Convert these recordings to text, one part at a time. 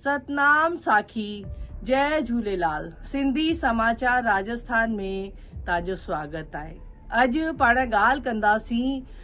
ستنام ساکي جئ جهوليلال سنڌي سماچار راجسٿان ۾ تانجو سواگت آهي اڄ پاڻ ڳالهه ڪنداسين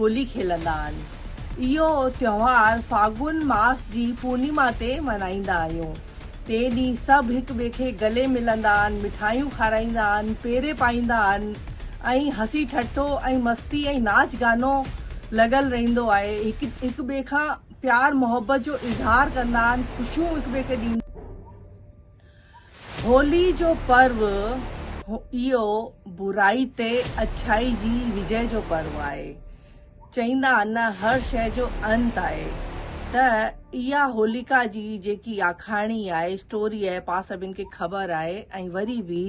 هولي کيلندا آهن. اهو تهوار فاگن ماس جي پورنيما تي ملهائيندا آهيون. تي ڏينهن سڀ هڪ ٻئي کي گلي ملندا آهن، مٺايون کارائيندا آهن، پيري پائيندا آهن ۽ هسي ٺٽو ۽ مستي ۽ ناچ گانو لڳل رهندو آهي. هڪ هڪ ٻئي کان پيار محبت جو اظهار ڪندا آهن، خوشيون هڪ ٻئي کي ڏيندا. هولي جو پرو اهو برائي تي اڇائي جي وجئي جو پرو آهي. چئيندا آهن نه هر شئي جو انت آهي ته اها هوليڪا جي جيڪي آکاڻي آهي اسٽوري آهي پاڻ سڀن کي خبر آهي ۽ وري به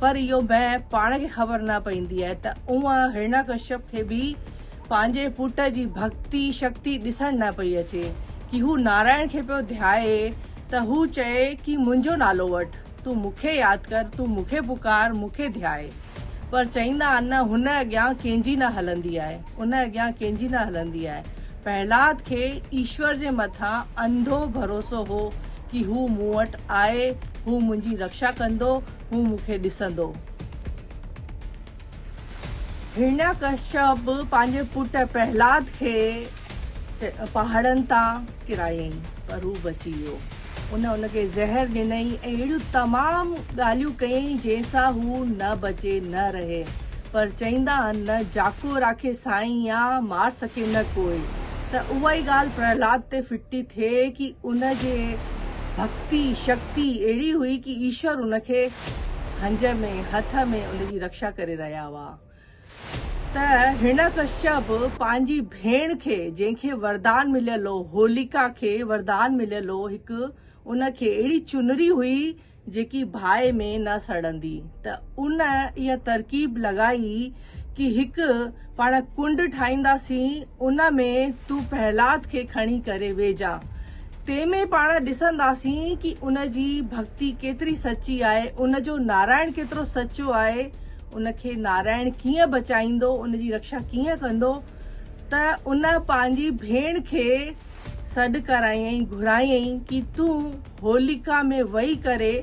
پر اهو بنهه پاڻ کي خبر نه پئيندي آهي ته اوهان هرڻيا ڪشيپ کي به پنهنجي پٽ جي ڀڳتي شڪتي ڏسڻ نه پئي اچي ڪي هو نارائڻ کي پيو ڌيائي ته هو چئي ڪي منهنجو نالو وٺ تون مون کي ياد ڪر تون مون کي پڪار مون کي ڌيائي پر چئيندا آهن نه هن اڳيان ڪنهنجي نه هلندي آهي. ان اڳيان ڪنهن جي نه هلندي آهي. پهلاد کي ايشور جي مٿان انڌو ڀروسو هو ڪي هو مون وٽ آهي، هو منهنجي رڪشا ڪندو، هو مون کي ڏسندو. هرڻياڪشپ به پنهنجي پٽ پهلاد کي پهاڙن تان ڪرايائين پر هو بچي ويو. ان ان کي زهر ڏنئي ۽ اهڙيون تمام ڳالهيون ڪيئي جنهن سان هو نه بچي نه رهي پر چئيندا آهن نه جاکو راکي سائين يا مار سکي نه ڪوئي ته اهائي ڳالهه پرهلاد تي ڦٽي ٿئي ڪي ان جي ڀڪتي شڪتي اهڙي هئي ڪي ايشور ان کي هنج ۾ هٿ ۾ ان جي رڪشا ڪري رهيا هئا. ته هرڻياڪشيا به پنهنجي ڀيڻ کي جنهن کي وردان مليل هو، هوليڪا کي وردان مليل هو هڪ ان کي اهڙي چنري هئي جيڪي باهه ۾ نه سڙندي ته ان اها ترڪيب لڳائي ڪي هڪ پاڻ ڪنڊ ٺاهينداسين ان ۾ تون پهلاد کي کڻي ڪري ويجهه تنهن ۾ پاڻ ڏسنداسين ڪي ان جي ڀڳتي ڪيتري سچي آهي ان جو نارائڻ ڪيترو سچو آهي ان کي نارائڻ ڪيئن بچائيندو، ان جي رڪشا ڪيئن ڪندو ته ان پنهنجي ڀيڻ کي سڏ ڪرايائين، گهرايائين ڪي تون هوليڪا ۾ وهي ڪري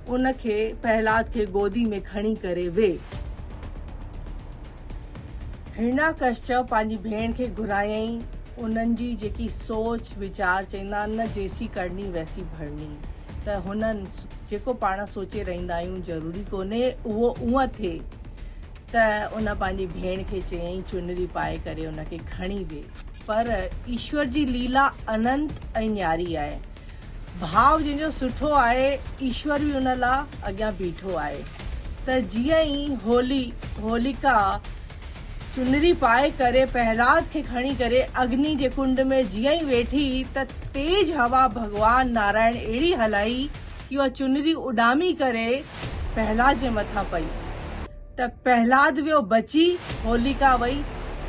ان کي پهلاد کي گودي ۾ کڻي ڪري ويهه. هرڻياڪشچ پنهنجي ڀيڻ کي گهرايائين، انهن جي جيڪي سوچ ويچار چئيندا آهن نه جيسي ڪرڻي ويسي ڀرڻي. ته هن جيڪو پاڻ سوچي رهندا آهيون ضروري ڪونهي اهو اونء ٿئي ته ان پنهنجي ڀيڻ کي چيائين چنري پائي ڪري ان کي کڻي وي پر ايشور جي ليلا اننت ۽ نياري آهي ڀاء جنهن جو سٺو آهي ايشور به ان لا اڳيان بيٺو آهي ته جيئن ئي هولي هوليڪا چنري پائي ڪري پهلاد کي کڻي ڪري اگني جي ڪنڊ ۾ جيئن ئي ويٺي ته تيز هوا ڀڳوان نارائڻ اهڙي هلائي ڪي اها چنري اڏامي ڪري پهلاد جي مٿان پئي ته پهلاد ويو بچي هوليڪا وئي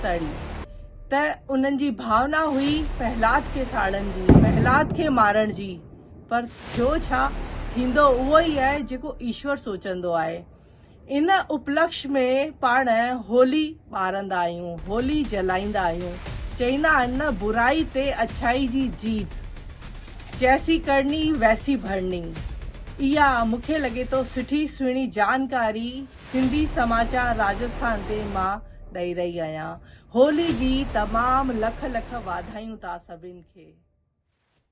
سڙي ته انهن جي ڀاونا هئي پهلاد کي ساڙڻ جي پهلاد کي مارڻ جي پر ٿيو ڇا ٿيندو اهو ئي آهي جيڪو ايشور سوچندو آهي. ان اپلڪش ۾ پاڻ هولي ٻارندا آهيون، هولي جلائيندا آهيون. چئيندا آهن نه برائي تي اڇائي جي جيت، جيسي ڪرڻي ويسي ڀرڻي. اها مون کي لڳي ٿو سٺي سهڻي جانڪاري سنڌي سماچار راجسٿان تي مان ڏئي رهي آهيان. هولي جي تمام لک لک واڌايون تا سڀن کي.